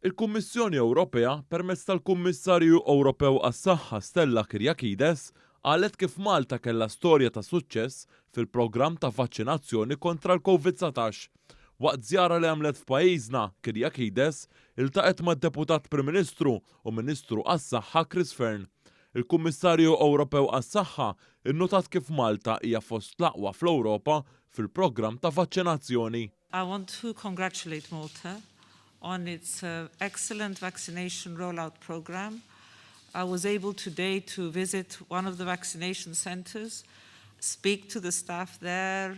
Il-Kummissjoni Ewropea, permezz tal-Kummissarju Ewropew għas-Saħħa Stella Kyriakides, qalet kif Malta kellha storja ta' suċċess fil-programm ta' vaċċinazzjoni kontra l-Covid dsatax. Waqt żjara li għamlet f'pajjiżna, Kyriakides iltaqgħet mad-Deputat Prim Ministru u Ministru għas-Saħħa Chris Fearne. Il-Kummissarju Ewropew għas-Saħħa nnotat kif Malta hija fost l-aqwa fl-Ewropa fil-programm ta' vaċċinazzjoni. I want to congratulate Malta on its excellent vaccination rollout programme. I was able today to visit one of the vaccination centres, speak to the staff there,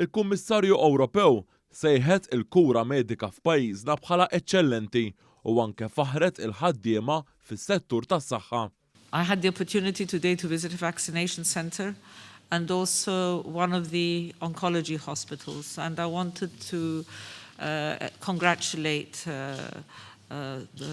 Il-Kummissarju Ewropew sejħet il-kura medika f'pajjiżna bħala eċċellenti u anke faħħret il-ħaddiema fis-settur tas-saħħa. I had the opportunity today to visit a vaccination centre and also one of the oncology hospitals and I wanted to congratulate the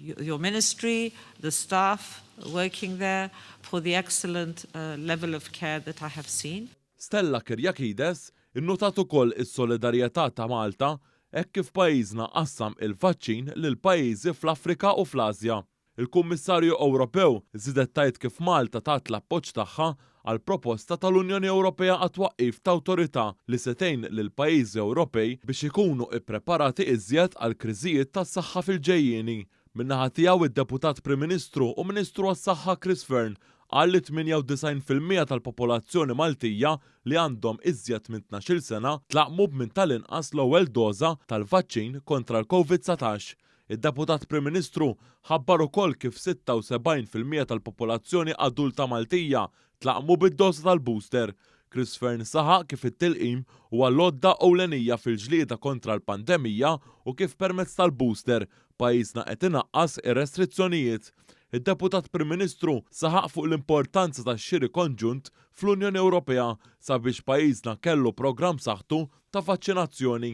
your ministry, the staff working there for the excellent level of care that I have seen. Stella Kyriakides innutat ukoll is-solidarjetà ta' Malta hekk kif pajjiżna qassam il-vaċċin lil pajjiżi fl-Afrika u fl-Asja. Il-Kummissarju Ewropew żiedet tgħid kif Malta tat l-appoġġ tagħha għall-proposta tal-Unjoni Ewropea għat-twaqqif ta' awtorità li se tgħin lill-pajjiżi Ewropej biex ikunu ppreparati iżjed għal kriżijiet tas-saħħa fil-ġejjieni. Min-naħa tiegħu, id-Deputat Prim Ministru u Ministru għas-Saħħa Chris Fearne qal li 98 fil-mija tal-popolazzjoni Maltija li għandhom iżjed minn tnax-il sena tlaqqmu b'minn tal-inqas l-ewwel doża tal-vaċċin kontra l-Covid dsatax. Id-Deputat Prim Ministru ħabbar ukoll kif 76 fil-mija tal-popolazzjoni adulta Maltija tlaqqmu bid-doża tal-booster. Chris Fearne saħaq kif it-tilqim huwa l-għodda ewlenija fil-ġlieda kontra l-pandemija u kif permezz tal-booster, pajjiżna qed inaqqas ir-restrizzjonijiet. Id-Deputat Prim Ministru saħaq fuq l-importanza tax-xiri konġunt fl-Unjoni Ewropea sabiex pajjiżna kellu programm b'saħħtu ta' vaċċinazzjoni.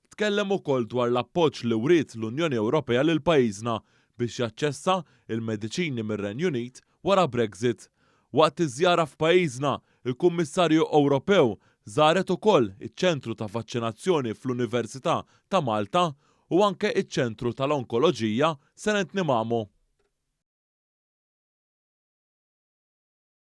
Tkellem ukoll dwar l-appoġġ li wriet l-Unjoni Ewropea lil pajjiżna biex jaċċessa il-mediċini mir-Renju Unit wara Brexit. Waqt iż-żjara f'pajjiżna, il-Kummissarju Ewropew żaret ukoll iċ-Ċentru ta' Vaċċinazzjoni fl-Università ta' Malta u anke iċ-Ċentru tal-Onkoloġija Senent Nimamu.